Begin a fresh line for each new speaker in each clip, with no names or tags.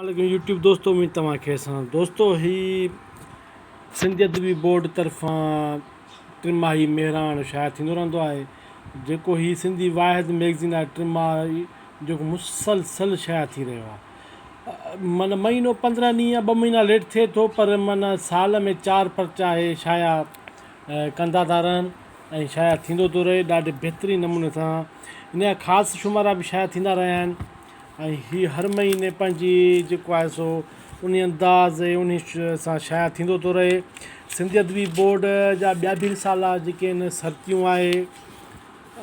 عليڪم يوٽيوب دوستو اميد توهان خير سان دوستو هي سنڌ ادبي بورڊ طرفان ٽن ماهي مهراڻ شايع ٿيندو رهندو آهي جيڪو هي سنڌي واحد ميگزين آهي ٽن ماهي جيڪو مسلسل شايع ٿي رهيو آهي معنی مهينو پندرهن ڏينهن يا ٻه مهينا ليٽ ٿئي ٿو پر معنی سال ۾ چار پرچا هي شايع ڪندا ٿا رهن ۽ شايع ٿيندو ٿو رهي ڏاڍي بهترين نموني سان ان جا خاص شمارا به شايع ٿيندا رهيا آهن ۽ هي هر مهيني پنهنجي جيڪو آهي سو انهي انداز ۽ انهي سان شايع ٿيندو ٿو رهي سنڌي ادبي بورڊ جا ٻيا به رسالا جيڪي آهن سرتيون آهي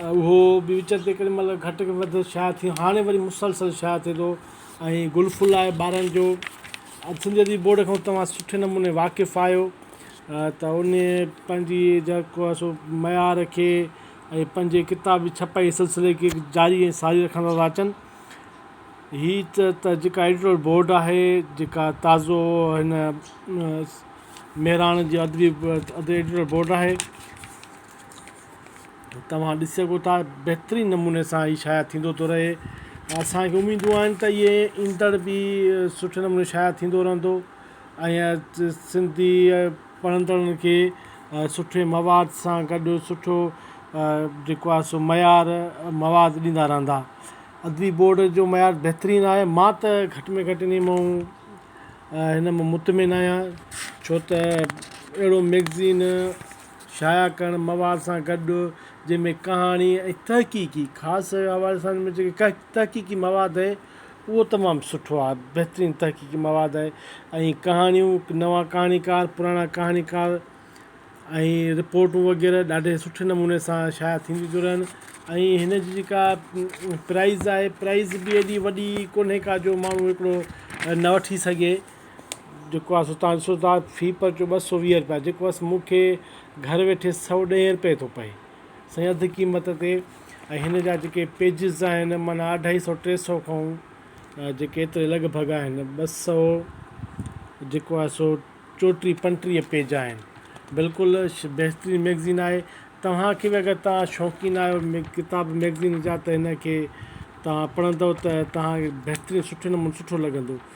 اهو به وچ وچ تي ڪڏهن مهل گهٽ وڌ شايع ٿي هاڻي وري مسلسل شايع ٿئي ٿو ۽ گل ڦل آهي ٻارن جو سنڌي ادبي بورڊ کان توهان سٺي نموني واقف آهيو ته انهي پنهنجي جيڪو آهي سو معيار کي ۽ پنهنجي ڪتاب جي ڇپائي سلسلي کي جاري ۽ ساري رکندا ٿا اچن. هي ته جيڪا ايڊيٽوريل بورڊ آهي جيڪا تازو هن مهراڻ جي ادبي ايڊيٽوريل بورڊ آهي توهان ڏسي سگهو ٿا بهترين نموني سان هي شايع ٿيندو ٿو رهي اسانکي اميدون آهن ته اهي ايندڙ به سٺي نموني شايع ٿيندو رهندو ۽ سنڌي پڙهندڙن کي سٺي مواد سان گڏ سٺو جيڪو آهي سو معيار مواد ڏيندا رهندا ادبي بورڊ جو معيار بهترين آهي مان ته گهٽ ۾ گهٽ انهي مئو هن مئو مطمئن آهيان ڇو ته اهڙو مئگزين شايع ڪرڻ مواد سان گڏ جنهن ۾ ڪهاڻي ۽ تحقيقي خاص حوالي سان جيڪي تحقيقي مواد اهو تمام سٺو آهي، بهترين تحقيقي مواد آهي ۽ ڪهاڻيون، نوان ڪهاڻيڪار، پراڻا ڪهاڻيڪار ۽ رپورٽون وغيره ڏاڍي سٺي نموني سان شايع ٿينديون ٿيون رهن ۽ هن جي جيڪا پرائز آهي پرائز به ايڏي وڏي ڪونهي ڪا جو ماڻهو هڪڙو نه وٺي سگهي جيڪو آهي سو تان سو تان في پرچو ٻه سو ويهه رپيا جيڪو آهي سو مون کي گهر ويٺي سؤ ڏهين رپئي ٿو پئي سائين اڌ قيمت تي ۽ هن جا جيڪي پيجز آهن معنيٰ اڍائي سو ٽي سو کائون جيڪي ايتري لڳ ڀڳ آهن ٻه سو جيڪو آهي سو چوٽيهه پنجٽيهه پيج آهن بلڪل بهترين ميگزين آهي توهان کي به اگر توهان شوقين آهيو ڪتاب ميگزين جا ته هن کي توهان پڙهندو ته توهان کي بهترين سٺي نموني سٺو لڳندو